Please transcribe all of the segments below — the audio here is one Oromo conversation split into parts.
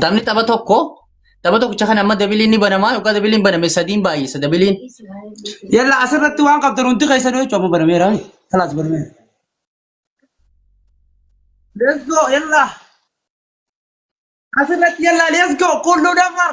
Taphni tapha tokko tapha tokkicha kan amma dabiliin ni banamaa yookaan dabiliin baname sadiin baay'isa dabiliin. Yalla asirratti waan qabdan hundi keessan jechuun amma banameera. Kalaas banameera. Let's go yalla. Asirratti yalla let's go kulluu dafar.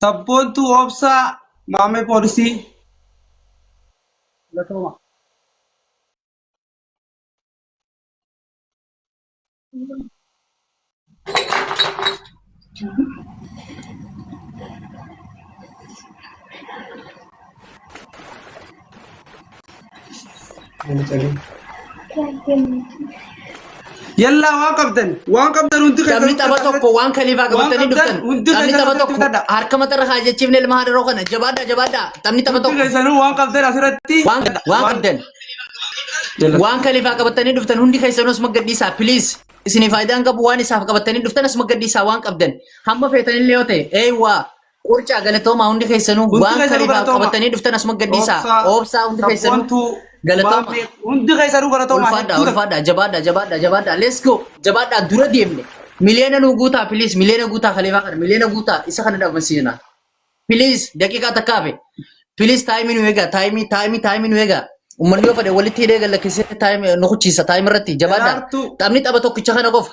Sabboontuu obsaa maamee poolisii. Galatooma. Yallaa waan qabdan waan qabdan hundi Taphni tapha tokko waan kaliifaa qabatanii dhuftan. Taphni tapha tokko harka matarra haa jechiifne ilma haadharoo kana jabaadhaa jabaadhaa taphni tapha tokko. keessanuu waan qabdan asirratti Waan waan qabdan. Waan kaliifaa qabatanii dhuftan hundi keessanuu asuma gadhiisaa please. Isinii faayidaan qabu waan isaaf qabatanii dhuftan asuma gadhiisaa waan qabdan. Hamma feetanillee yoo ta'e eeywaa Qurcaa galatoomaa hundi keessanuu Hundi waan keessanuu kaleefaa galatoomaa. qabatanii dhuftan asuma gadhiisaa. Obsaa, Obsaa hundi keessanuu sabboontuu, galatoomaa. Baabee, hundi keessanuu galatoomaa. Ulfaadhaa, Hedduu ulfaadhaa, jabaadhaa, jabaadhaa, jabaadhaa. Let's go. Jabaadhaa dura deemne. Miliyoona nu guutaa, please. Miliyoona guutaa kaleefaa kana. Miliyoona guutaa isa kana dhabamsiisna. Please, daqiiqaa takka hafe. Please, taayimii nu eegaa. Taayimii, taayimii, taayimii nu eegaa. Uummanni yoo fedhe walitti hidhee gad lakkisee taayimii nu kuchiisa. Taayimii irratti jabaadhaa. Daraartuu. Taphni tapha tokkicha kana qofa.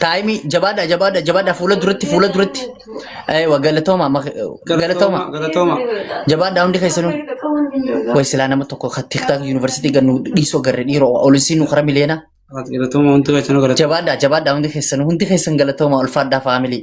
Taayimii jabaadha jabaadha jabaadha fuula duratti fuula duratti. Eewa galatooma mak- galatooma Galatooma. jabaadha hundi keessanuu. Way silaa nama tokko kan tiktaak yuunivarsiitii gannu dhiisoo garri dhiiroo olisiin nu kara miliyoona. Galatooma hundi keessanuu galatooma. Jabaadha jabaadha hundi keessanuu hundi keessan galatooma ulfaadhaa faamilii.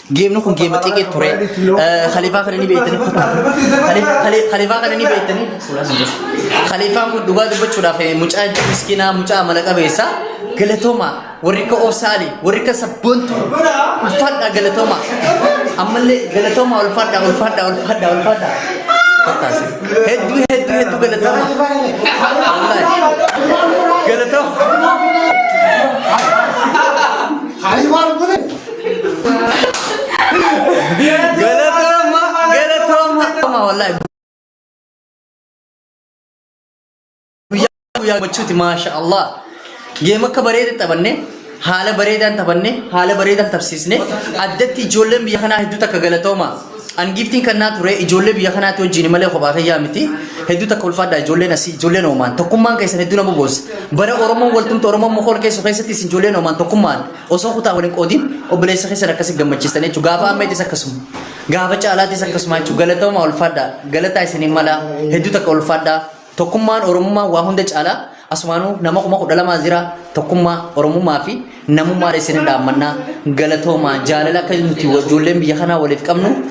Geemni kun geema xiqqee ture. Khalifaa kana ni beektanii kuttaa. Khalifaa kana ni beektanii. Khalifaan kun dhugaa dubbachuudhaaf mucaa miskinaa mucaa amala qabeessa. Galatooma warri akka Oosaali warri akka sabboontu ulfaadhaa galatooma. Ammallee galatooma ulfaadhaa ulfaadhaa ulfaadhaa ulfaadhaa. Fattaasi. Hedduu hedduu hedduu galatooma. Wallaahi. Galatooma. Galatoma, galatoma. Galatoma wallahi. Guyyaa guyyaa gochuuti maasha Allah. Geema akka bareeda taphanne haala bareedaan taphanne haala bareedaan tapsiisne addatti ijoolleen biyya kanaa hedduu takka galatooma. An giiftiin kan naa ture ijoollee biyya kanaatti wajjin malee kophaa kiyyaa miti. Hedduu takka ulfaadha ijoolleen asii ijoolleen oomaan tokkummaan keessan hedduu nama boos. Bara Oromoon waltumte Oromoon mokool keessu keessatti isin ijoolleen oomaan tokkummaan. Osoo kutaa waliin qoodiin obboleessa keessan akkasi gammachiistan jechuudha. Gaafa ammaytis akkasuma. Gaafa caalaattis akkasuma jechuudha. Galatoomaa ulfaadhaa. Galataa isiniin malaa. Hedduu takka ulfaadhaa. Tokkummaan Oromummaa waa hunda caalaa. Asumaanuu nama kuma kudha lamaa jira. Tokkummaa Oromummaa fi namummaa isiniin dhaammannaa. Galatoomaa jaalala akka nuti ijoolleen biyya kanaa waliif qabnu.